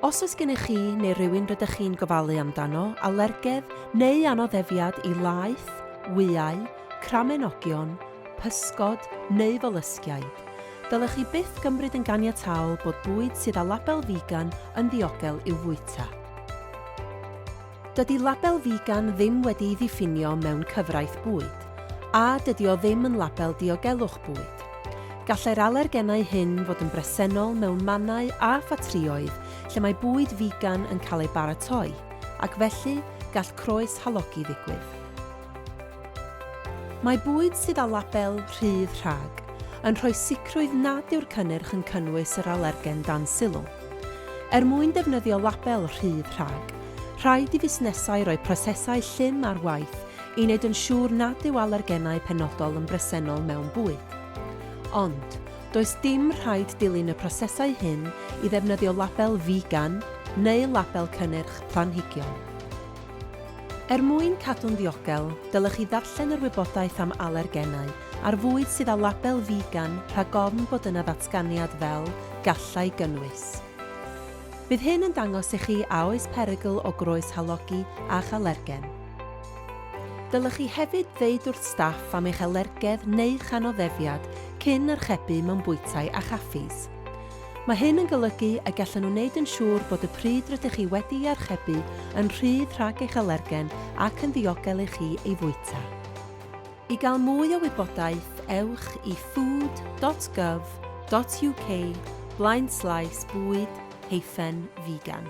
Os oes gennych chi neu rywun rydych chi'n gofalu amdano alergedd neu anoddefiad i laeth, wyau, cramenogion, pysgod neu folysgiaid, dylech chi byth gymryd yn ganiataol bod bwyd sydd â label figan yn ddiogel i'w fwyta. Dydy label figan ddim wedi'i ddiffinio mewn cyfraith bwyd, a dydy o ddim yn label diogelwch bwyd. Gallai'r alergenau hyn fod yn bresennol mewn mannau a ffatrïoedd lle mae bwyd figan yn cael ei baratoi, ac felly gall croes halogi ddigwydd. Mae bwyd sydd â label 'rhydd rhag' yn rhoi sicrwydd nad yw'r cynnyrch yn cynnwys yr alergen dan sylw. Er mwyn defnyddio label 'rhydd rhag', rhaid i fusnesau roi prosesau llym ar waith i wneud yn siŵr nad yw alergenau penodol yn bresennol mewn bwyd. Ond, does dim rhaid dilyn y prosesau hyn i ddefnyddio label 'figan' neu label cynnyrch planhigion. Er mwyn cadw'n ddiogel, dylech chi ddarllen yr wybodaeth am alergenau ar fwyd sydd â label figan rhag ofn bod yna ddatganiad fel 'gallai gynnwys'. Bydd hyn yn dangos i chi a oes perygl o groes halogi a'ch alergen. Dylech chi hefyd ddeud wrth staff am eich alergedd neu'ch anoddefiad cyn archebu mewn bwytai a chaffis. Mae hyn yn golygu y gallan nhw wneud yn siŵr bod y pryd rydych chi wedi'i archebu yn rhydd rhag eich alergen ac yn ddiogel i chi ei fwyta. I gael mwy o wybodaeth, ewch i food dot gov dot uk blaen slaes bwyd hyphen figan.